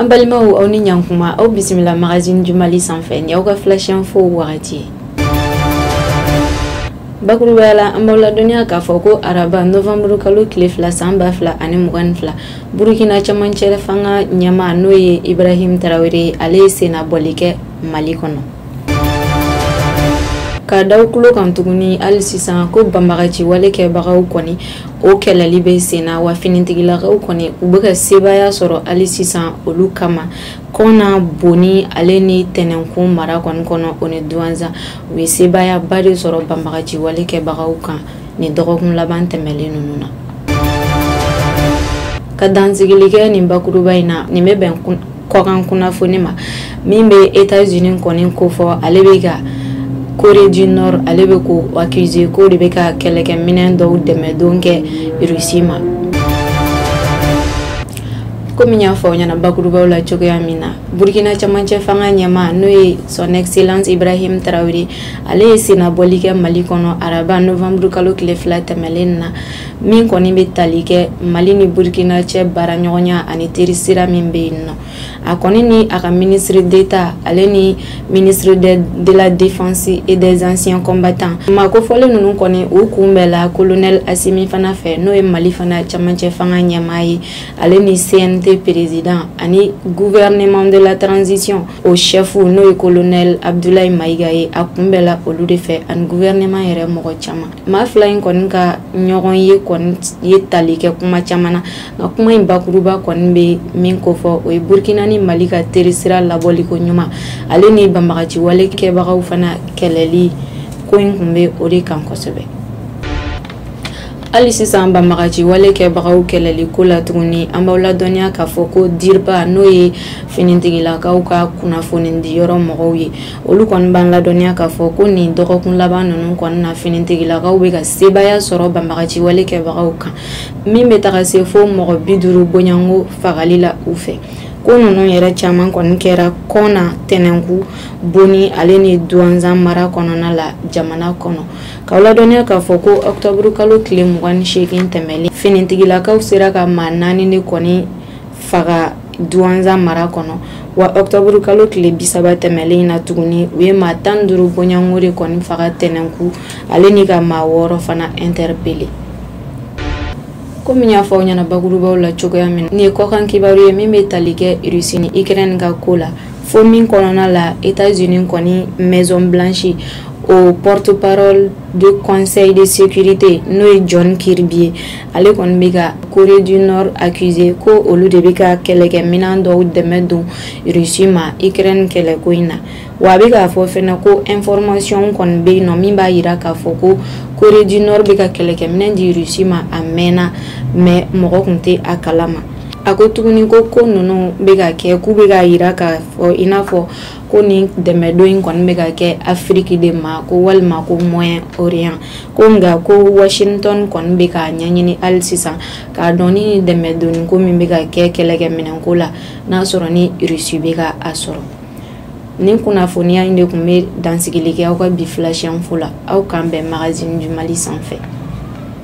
an balimaw aw ni ɲankuma aw bisimila magazine du mali sanfɛ ni aw ka flash info wagati bakurubaya la an b'aw ladɔnniya k'a fɔ ko araba novanburu kalo tile fila san ba fila ani mugan ni fila burukina camancɛ fanga ɲɛmaa n'o ye ibrahim tarawele ale ye sennabɔli kɛ mali kɔnɔ k'a d'aw tulo kan tuguni hali sisan ko banbagaci wale kɛbagaw kɔni o kɛlɛli bɛ senna wa finitigilakaw kɔni u bɛ ka sebaaya sɔrɔ hali sisan olu kama kɔna boni ale ni tɛnɛnkun mara kɔni kɔnɔ o ni duwanza u ye sebaayaba de sɔrɔ banbagaci wale kɛbagaw kan nin dɔgɔkun laban tɛmɛlen ninnu na ka dansigili kɛ nin bakuruba in na nin bɛ bɛn kɔkan kunnafoni ma min bɛ Etats-Unis kɔni kofɔ ale bɛ ka Corée du Nord ale bɛ k'o accuser k'o de bɛ ka kɛlɛkɛminɛn dɔw dɛmɛdon kɛ Russie ma komi n y'a fɔ aw ɲɛna bakurubaw la cogoya min na burkina camancɛ fanga ɲɛmaa n'o ye son excellence ibrahim tarawele ale ye sennabɔli kɛ mali kɔnɔ araba novembre kalo tile fila tɛmɛlen na min kɔni bɛ tali kɛ mali ni burkina cɛ baaraɲɔgɔnya ani teri sira min bɛ yen nɔ a kɔni ni a ka ministre d'etat ale ni ministre de la défense et des anciens combattants maa kofɔlen ninnu kɔni u kunbɛnna colonel asimi fana fɛ n'o ye mali fana camancɛ fanga ɲɛmaa ye ale ni cnt président ani gouvernement de la transition o chɛfu n'o ye colonel abdoulaye mayiga ye a kunbɛnna olu de fɛ ani gouvernement yɛrɛ mɔgɔ caman maa fila in kɔni ka ɲɔgɔn ye kɔni ye tali kɛ kuma caman na nka kuma in bakuruba kɔni bɛ min kofɔ o ye burkina ni mali ka terisira labɔliko ɲuman ale ni banbagaciwale kɛbagaw fana kɛlɛli ko in tun bɛ o de kan kosɛbɛ hali sisan banbagaci wale kɛbagaw kɛlɛli ko la tuguni an b'aw ladɔnniya k'a fɔ ko dirpa n'o ye finitigilakaw ka kunnafonidiyɔrɔ mɔgɔw ye olu kɔni b'an ladɔnniya k'a fɔ ko nin dɔgɔkun laban ninnu kɔni na finitigilakaw bɛ ka sebaaya sɔrɔ banbagaci wale kɛbagaw kan min bɛ taga se fo mɔgɔ bi duuru bɔɲɔgɔnko fagali la u fɛ ko ninnu yɛrɛ caman kɔni kɛra kɔna tɛnɛnkun boni ale ni duwanza mara kɔnɔna la jamana kɔnɔ k'aw ladɔnniya k'a fɔ ko ɔkutɔburukalo tile mugan ni seegin tɛmɛlen finitigilakaw sera ka maa naani de kɔni faga duwanza mara kɔnɔ wa octobre kalo tile bi saba tɛmɛlen na tuguni u ye maa tan duuru bɔɲɔgɔnko de kɔni faga tɛnɛnku ale ni ka maa wɔɔrɔ fana interpeller komi n y'a fɔ aw ɲɛna bakurubaw la cogoya min na nin ye kɔkan kibaru ye min bɛ tali kɛ russie ni ukraine ka ko la fo min kɔnɔna la etats unis kɔni maison blanche o porte parole de conseil de sécurité n'o ye john kirby ye ale kɔni bɛ ka corée du nord accuser ko olu de bɛ ka kɛlɛkɛminɛn dɔw dɛmɛ don russie ma ukraine kɛlɛko in na wa a bɛ k'a fɔ fɛnɛ ko information kɔni bɛ yen nɔ min b'a jira k'a fɔ ko corée du nord bɛ ka kɛlɛkɛminɛn di russie ma a mɛnna mais mɔgɔ tun tɛ a kalama a ko tuguni ko ko ninnu bɛ ka kɛ k'u bɛ k'a jira k'a fɔ i n'a fɔ ko nin dɛmɛdon in kɔni bɛ ka kɛ afiriki de ma ko walima ko moyen orient ko nka ko washington kɔni bɛ k'a ɲɛɲini hali sisan k'a dɔn ni dɛmɛdonni ko min bɛ ka kɛ kɛlɛkɛminɛnko la n'a sɔrɔ ni russie bɛ ka a sɔrɔ nin kunnafoniya in de tun bɛ dansigili kɛ aw ka bi flash info la aw k'an bɛn magazine du mali sanfɛ